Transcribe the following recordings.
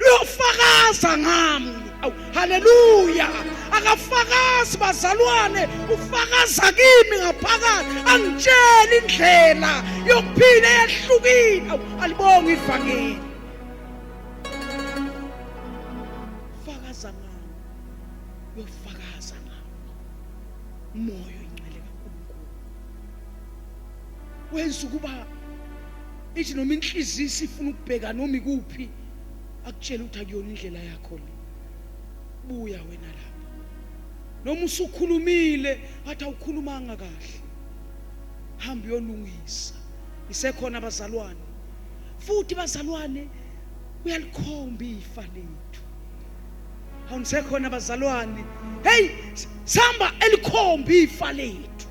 luyofakaza ngami awu haleluya akafakazi bazalwane ufakaza kimi ngaphakathi angitshela indlela yokuphila eyahlukile awu alibonga ivangeli fakaza ngami uyofakaza ngami umoya oyingcwele kaNkulunkulu wenza ukuba ithi noma inhliziyo isifuna ukubheka noma ikuphi akutshele ukuthi akuyona indlela yakho le buya wena lapha noma usukhulumile athi awukhulumanga kahle hamba uyolungisa isekhona abazalwane futhi bazalwane uyalikhomba ifa lethu awunisekhona abazalwane hey sihamba elikhomba ifa lethu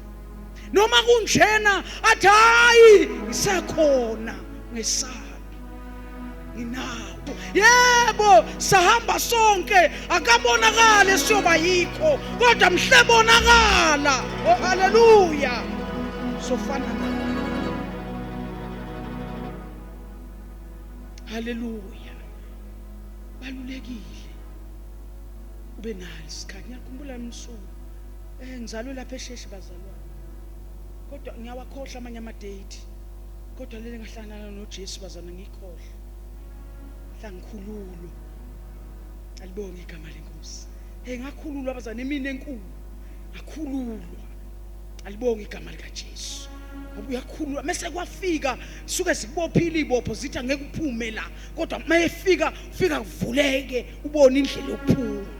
noma kunjena athi hayi ngisekhona ngesaba nginawo yebo sahamba sonke akabonakale siyoba yikho kodwa mhle bonakala oh haleluya sofana nawe haleluya balulekile ube nalo isikhathi ngiyakhumbula msuku eh ngizalwe lapha esheshe bazalwane kodwa ngiyawakhohlwa amanye ama date kodwa leli ngahlangana noJesu bazana ngikhohle hlangikhululwa alibonge igama lenkosi hey ngakhululwa bazana imini enkulu ngakhululwa alibonge igama likaJesu ngoba uyakhululwa mese kwafika suke sibophile ibopho zithi angeke uphume la kodwa mayefika ufika kuvuleke ubone indlela yokuphuma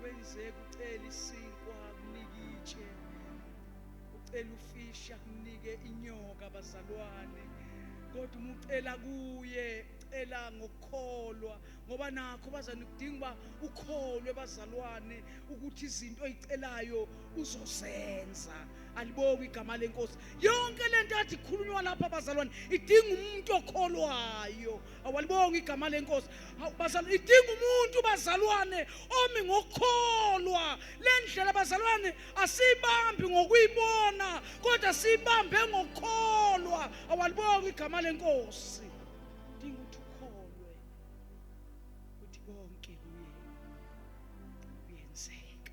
kwenzeka ucela isinkwa kunike itshe ucela ufisha kunike inyoka bazalwane kodwa uma ucela kuye ucela ngokukholwa ngoba nakho bazane kudinga uba ukholwe bazalwane ukuthi izinto oyicelayo uzozenza alibonge igama lenkosi yonke le nto athi ikhulunywa lapha bazalwane idinga umuntu okholwayo awalibonga igama lenkosi bazalwa idinga umuntu bazalwane omi ngokukholwa le ndlela bazalwane asiyibambi ngokuyibona kodwa siyibambe ngokukholwa awalibonga igama lenkosi dinga ukuthi ukholwe ukuthi konke kuye kuyenzeka